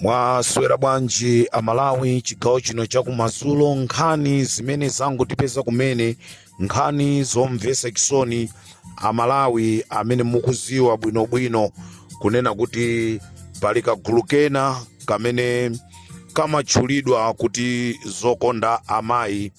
mwaswera bwanji amalawi chigawo chino chakumadzulo nkhani zimene zangotipeza kumene nkhani zomvesa chisoni amalawi amene mukuziwa bwinobwino kunena kuti pali kagulu kena kamene kamatchulidwa kuti zokonda amayi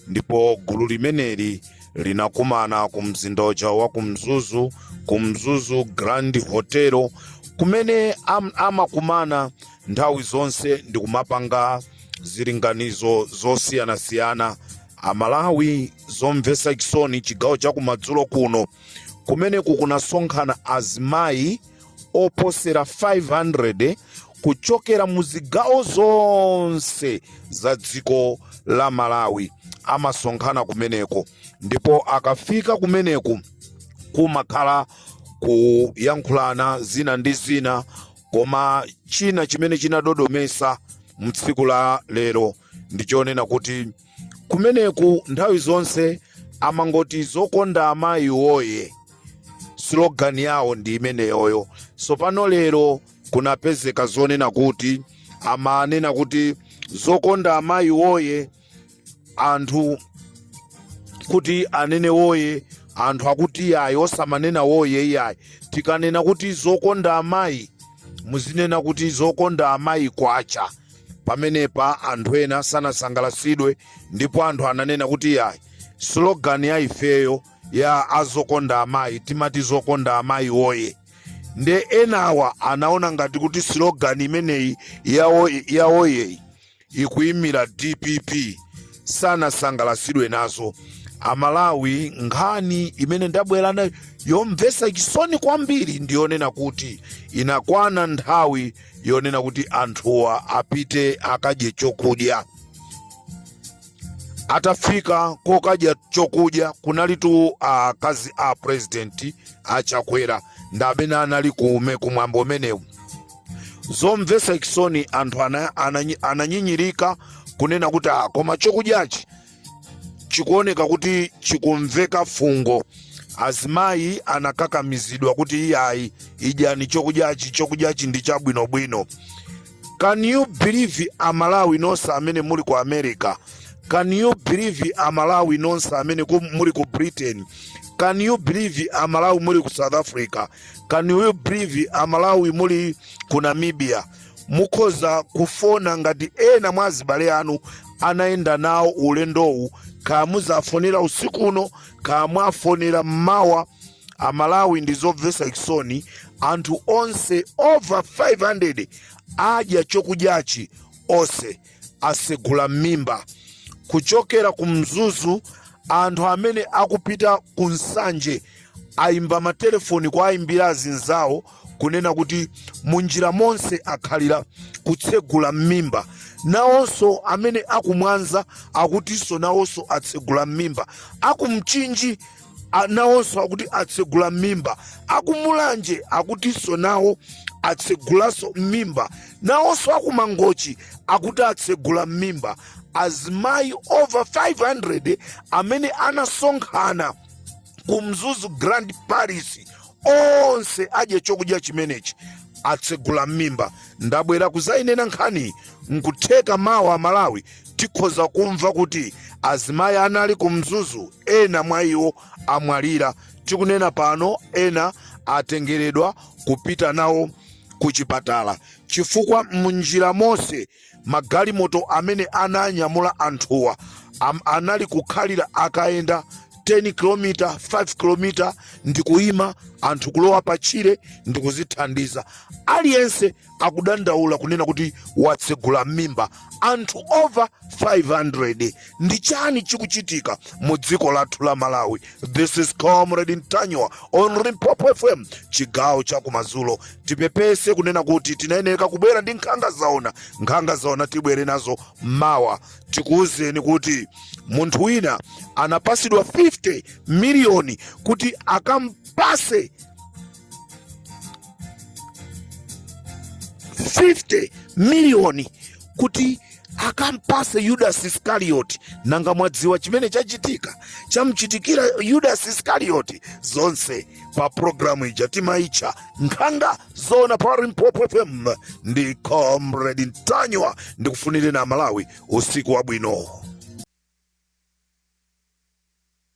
ndipo gulu limeneli linakumana ku mzinda uja wa ku mzuzu ku mzuzu grand hotel kumene am, amakumana nthawi zonse ndi kumapanga zilinganizo zosiyanasiyana amalawi zomvetsa chisoni chigawo cha kumadzulo kuno kumene kunasonkhana azimayi oposera 500 kuchokera mu zigawo zonse za dziko la malawi amasonkhana kumeneko ndipo akafika kumeneko kumakhala kuyankhulana zina ndi zina koma china chimene chinadodomesa mtsiku la lero ndichonena kuti kumeneku nthawi zonse amangoti zokonda amayi woye slogan yawo ndi imeneyoyo sopano lero kunapezeka zonena kuti amanena kuti zokonda amayi woye anthu kuti anene woye anthu akuti iyayi osamanena woye iyayi tikanena kuti zokonda amayi muzinena kuti zokonda amayi kwacha pamenepa anthu ena sanasangalasidwe ndipo anthu ananena kuti yayi slogan ya ifeyo ya azokonda amayi timati zokonda amayi woye nde enawa anaona ngati kuti slogan imeneyi ya oye- ya oyeyi ikuyimira dpp sanasangalasidwe nazo amalawi nkhani imene ndabwera nayo yomvetsa chisoni kwambiri ndiyonena kuti inakwana nthawi yonena kuti anthuwa apite akadye chokudya atafika kokadya chokudya kunalitu akazi a president achakwera ndamene anali kumwambo umenewu zomvetsa chisoni anthu ana- ananyi- ananyinyirika kunena kuti "Ah, koma chokudyachi chikuoneka kuti chikumveka fungo azimayi anakakamizidwa kuti iyayi idyani chokudyachi chokudyachi ndi chabwinobwino can you believe amalawi nonse amene muli ku america can you believe amalawi nonse amene ku- muli ku britain can you believe amalawi muli ku south africa can you believe amalawi muli ku namibia mukhoza kufona ngati ena mwa azibale anu anayenda nawo ulendowu kaya muzafonera usiku uno kaya mwafonera mmawa amalawi ndi zomvetsa chisoni anthu onse over 500 adya chokudyachi onse asegula m'mimba kuchokera ku mzuzu anthu amene akupita ku nsanje ayimba matelefoni kuwayimbira azinzawo kunena kuti munjira monse akhalira kutsegula m'mimba nawonso amene akumwanza akutinso nawonso atsegula m'mimba akumchinji a- nawonso akuti atsegula m'mimba akumulanje akutinso nawo atsegulanso m'mimba nawonso akumangochi akuti atsegula m'mimba azimayi over 500 amene anasonkhana ku mzuzu grand palace onse adya chokudya chimenechi atsegula m'mimba ndabwera kuzayinena nkhani nkutheka mawa amalawi tikhoza kumva kuti azimayi anali ku mzuzu ena mwa iwo amwalira tikunena pano ena atengeredwa kupita nawo ku chipatala chifukwa munjira monse magalimoto amene ananyamula anthuwa anali kukhalira akayenda 10 km 5 km ndikuyima anthu kulowa patchire ndikuzithandiza aliyense akudandaula kunena kuti watsegula m'mimba anthu over 500 ndi chani chikuchitika mu dziko lathu la malawi this is comrade ntanyiwa on limpopo fm chigawo cha kumazulo tipepese kunena kuti tinayeneka kubwera ndi nkhanga zaona nkhanga zaona tibwere nazo mawa tikuwuzeni kuti munthu wina anapasidwa 50 miliyoni kuti akampase 50 miliyoni kuti akampase yudasi iskarioti nanga mwadziwa chimene chachitika chamchitikira yudasi iskarioti zonse pa programu ija timaitcha nkhanga zaona pa limpopo fm ndi comrade ntanyiwa ndikufunireni amalawi usiku wabwino